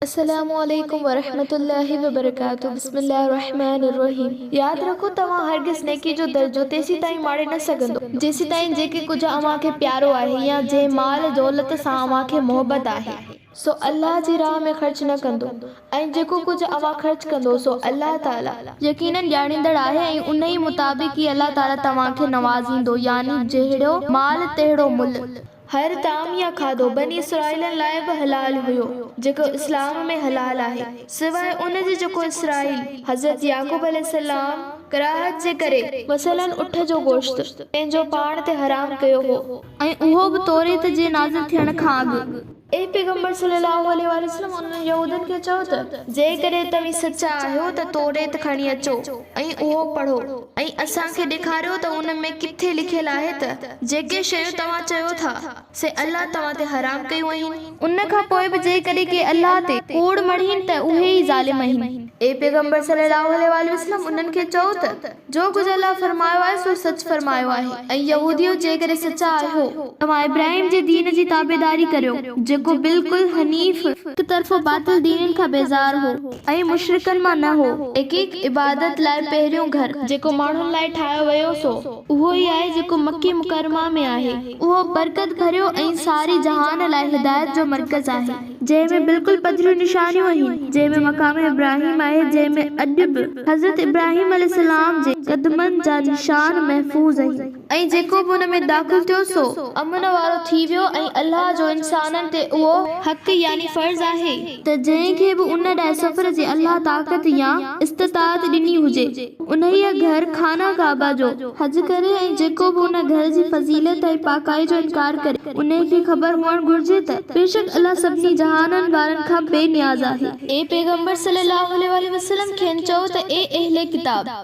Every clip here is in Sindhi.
السلام عليڪم ورحمة الله وبرڪاته بسم الله الرحمٰن الرحيم ياد رکو توهان هرگز نيڪي جو درجو تيسيتائين ماڙي نه سگهندو جيسيتائين جيڪي ڪجهه اوهان کي پيارو آهي يا جنهن مال دولت سان اوهان کي محبت آهي سو الله جي راهه ۾ خرچ نه ڪندو ۽ جيڪو ڪجهه اوهان خرچ ڪندو سو الله تعالي. يقيناً ڄاڻيندڙ آهي ۽ انهيء مطابق ئي الله تعالي توهان کي نوازيندو يعني جهڙو مال تهڙو ملهه. هر طعام يا کاڌو بني اسرائيلن لاء به حلال هيو، جيڪو اسلام ۾ حلال آهي، سواء ان جي جيڪو اسرائيل، حضرت يعقوب عليه السلام، ڪراهت جي ڪري، مثلاً اٺ جو گوشت، پنهنجو پاڻ تي حرام ڪيو هو. ۽ اهو به توريت جي نازل ٿيڻ کان اڳ. اي پيغمبر صلّي اللّٰه عليه واٰله وسلّم انهن يهودين کي چئو ته، جيڪڏهن توهين سچا آهيو ته توريت کڻي اچو. ۽ اهو پڙهو ۽ اسان کي ڏيکاريو ته ان ۾ ڪٿي لکيل آهي ته جيڪي شيون توهان چيو ٿا سي الله توهان تي حرام ڪيون اهين. ان کان پوء به جيڪڏهن ڪي الله تي ڪوڙ مڙهين ته اهي ئي ظالم اهين. اي پيغمبر صلّي اللّٰه عليه واٰله وسلّم انهن کي چئو ته جو ڪجهه الله فرمايو آهي سو سچ فرمايو آهي ۽ يهوديو جيڪڏهن سچا آهيو ته توهان ابراهيم جي دين جي تابعداري ڪريو جيڪو بلڪل حنيف، هڪ طرفو باطل دينن کان بيزار هو. ۽ مشرڪن مان نه هو. حقيق عبادت لاء پهريون گهر جيڪو ماڻهن لاء ٺاهيو ويو سو اهو ئي آهي جيڪو مڪي مڪرمه ۾ آهي. اهو برڪت ڀريو ۽ ساري جهان لاء هدايت جو مرڪز آهي. جنهن ۾ بلڪل پڌريون نشانيون اهين. جنهن ۾ مقام ابراهيم آهي جنهن ۾ اڄ به حضرت ابراهيم عليه السلام جي قدمن جا نشان محفوظ اهين. ۽ جيڪو به ان ۾ داخل ٿيو سو امن وارو ٿي ويو ۽ الله جو انسانن تي اهو حق يعني فرض آهي. ته جنهن کي به ان ڏانهن سفر جي الله طاقت يا استطاعت ڏني هجي انهيء گهر، خانه ڪعبه، جو حج ڪري ۽ جيڪو به ان گهر جي فضيلت ۽ پاڪائي جو انڪار ڪري انهيء کي خبر هئڻ گهرجي ته بيشڪ الله سڀني جهانن وارن کان بي نياز آهي. اي پيغمبر صلّي اللّٰه عليه واٰله وسلّم کين چئو ته اي اهل ڪتاب!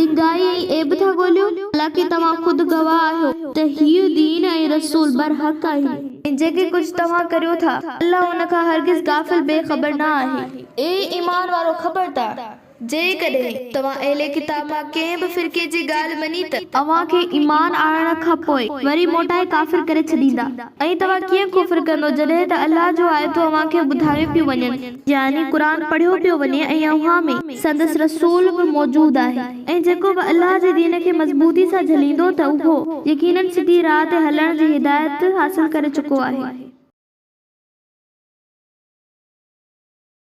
ڊگهائي ۽ عيب ٿا ڳوليو، حالانڪه توهان خود گواهه آهيو ته هيء دين ۽ رسول برحق آهن. ۽ جيڪي ڪجهه توهان ڪريو ٿا، الله ان کان هرگز غافل، بي خبر، نه آهي. اي ايمان وارؤ! خبردار! جيڪڏهن توهان اهل ڪتاب مان ڪنهن به فرقي جي ڳالهه مڃي ته، اوهان کي ايمان آڻڻ کان پوء وري موٽائي ڪافر ڪري ڇڏيندا، ۽ توهان ڪيئن ڪفر ڪندؤ جڏهن ته الله جون آيتون اوهان کي ٻڌايون پيون وڃن، يعني قرآن پڙهيو پيو وڃي، ۽ اوهان ۾. سندس رسول به موجود آهي ۽ جيڪو به الله جي دين کي مضبوطي سان جهليندو ته اهو يقيناً سڌي راهه تي هلڻ جي هدايت حاصل ڪري چڪو آهي.